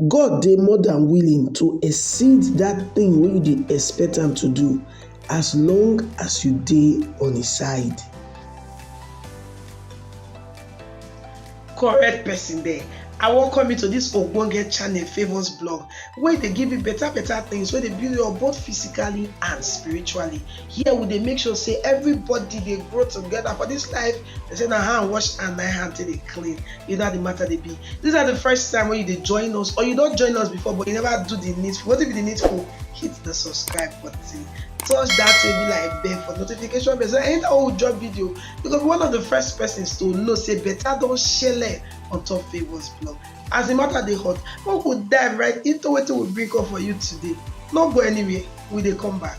God dey more than willing to exceed that thing wey you dey expect am to do as long as you dey on his side. correct person there i welcome you to this ogbonge channel favours blog wey dey give you better better things wey dey build you up both physically and spiritually here we dey make sure say everybody dey grow together for this life They say na hand wash and na hand take dey clean. You know how the matter dey be. These are the first time when you dey join us or you don join us before but you never do the needful. Wetin be the needful? Hit the subscribe button. Touch that table like bell for notification bell so anytime wey we drop video, you go be one of the first persons to know say better don shele on top Favourz blog. As the matter dey hot, make we dive right into wetin we bring come for you today. No go anywhere, we dey come back.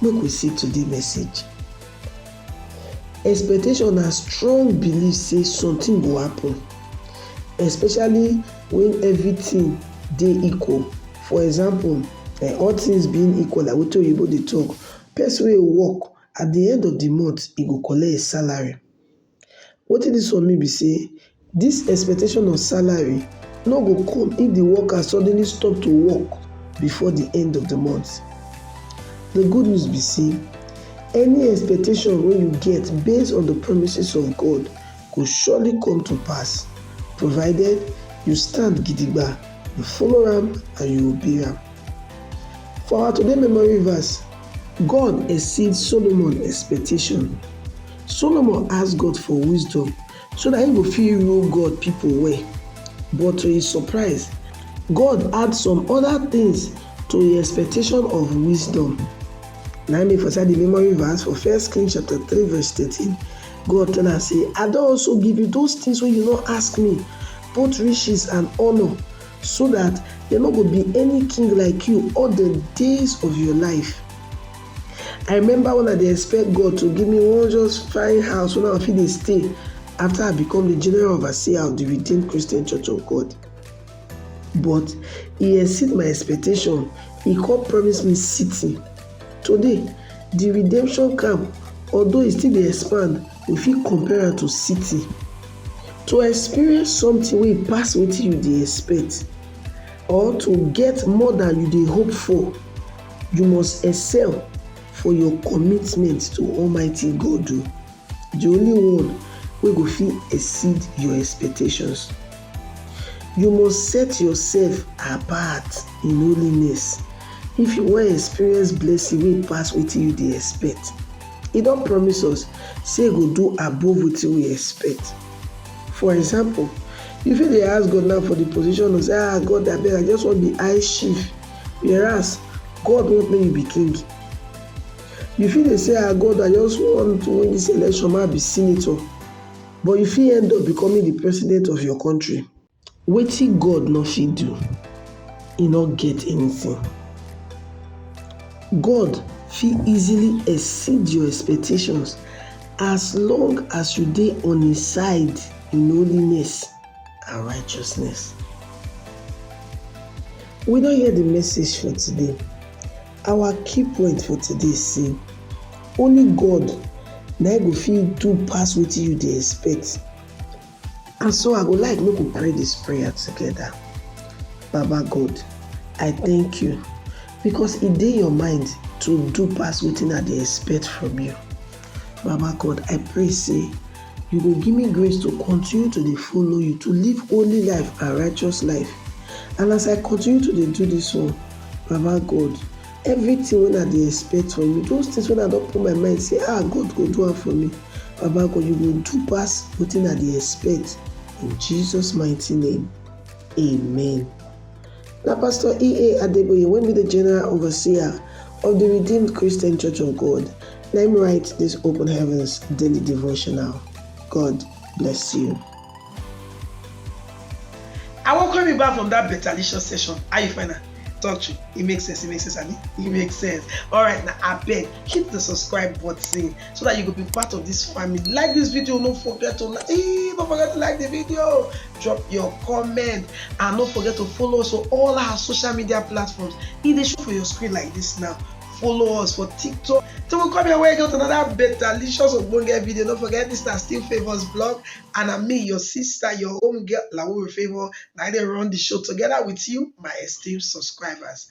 Make we see today message. Expectation na strong belief sey something go happen especially when everything dey equal for example um all things being equal like wetin oyibo dey talk person wey work at de end of de month e go collect him salary Wetin dis one mean be sey dis expectation of salary no go come if di worker suddenly stop to work before di end of di month. Di good news be sey any expectation wey you get based on di promises of God go surely come to pass provided you stand gidigba, you follow am and you obey am. For our today memory verse, God exceed Solomon expectation Solomon ask God for wisdom so dat he go fit rule God pipo well. But to his surprise, God add some oda tins to him expectation of wisdom. Na im make for inside di memory verse for First Kings chapter three verse thirteen, God tell am say, I don also give you those tins wey you no ask me, both riches and honour, so dat there no go be any king like you all di days of your life. I remember when I dey expect God to give me one just fine house when I fit dey stay after I become the general overseer of the Redeemed Christian Church of God. But he exceed my expectation. He come promise me city. Today, the redemption camp, although e still dey expand, we fit compare am to city. To experience something wey pass wetin you dey expect or to get more than you dey hope for You must excel for your commitment to Almighty God, o, di only one wey go fit exceed your expectations. You must set yourself apart in holiness if you wan experience blessing wey pass wetin you dey expect. E don promise us sey e go do above wetin we expect. For example, you fit dey ask God now for di position of sey, Ah God abeg I just wan be high chief. Whereas, God want make you be king. You fit dey say, ah, God, I just want to win this election, make I be senator. But you fit end up becoming the president of your country. Wetin God no fit do, e no get anything. God fit easily exceed your expectations as long as you dey on his side in holiness. and righteousness. We don hear the message for today. Our key point for today say only God na go fit do pass wetin you dey expect. And so I go like make we pray this prayer together. Baba God, I thank you because e dey your mind to do pass wetin I dey expect from you. Baba God, I pray say you go give me grace to continue to dey follow you, to live holy life and righteous life. And as I continue to dey do this one, Baba God, everything when I dey expect from you, those things when I don't put my mind say, ah, God go do it for me. Baba God, you go do pass what I dey expect. In Jesus' mighty name, amen. Na Pastor E.A. Adeboye wey be the General Overseer of the Redeemed Christian Church of God na im write this Open Heavens Daily Devotional. God bless you. I welcome you back from that betalicious session. How you find am? Talk true. It makes sense. It makes sense. I mean, it makes sense. All right, now I beg hit the subscribe button. so that you could be part of this family like this video don't forget to like don't forget to like the video drop your comment and don't forget to follow us on all our social media platforms e dey show for your screen like this now follow us for tiktok till we come your way again with another betalicious ogbonge video don't forget this na still favours blog and na me your sister your home girl lawo favour na i dey run the show together with you my esteemed subscribers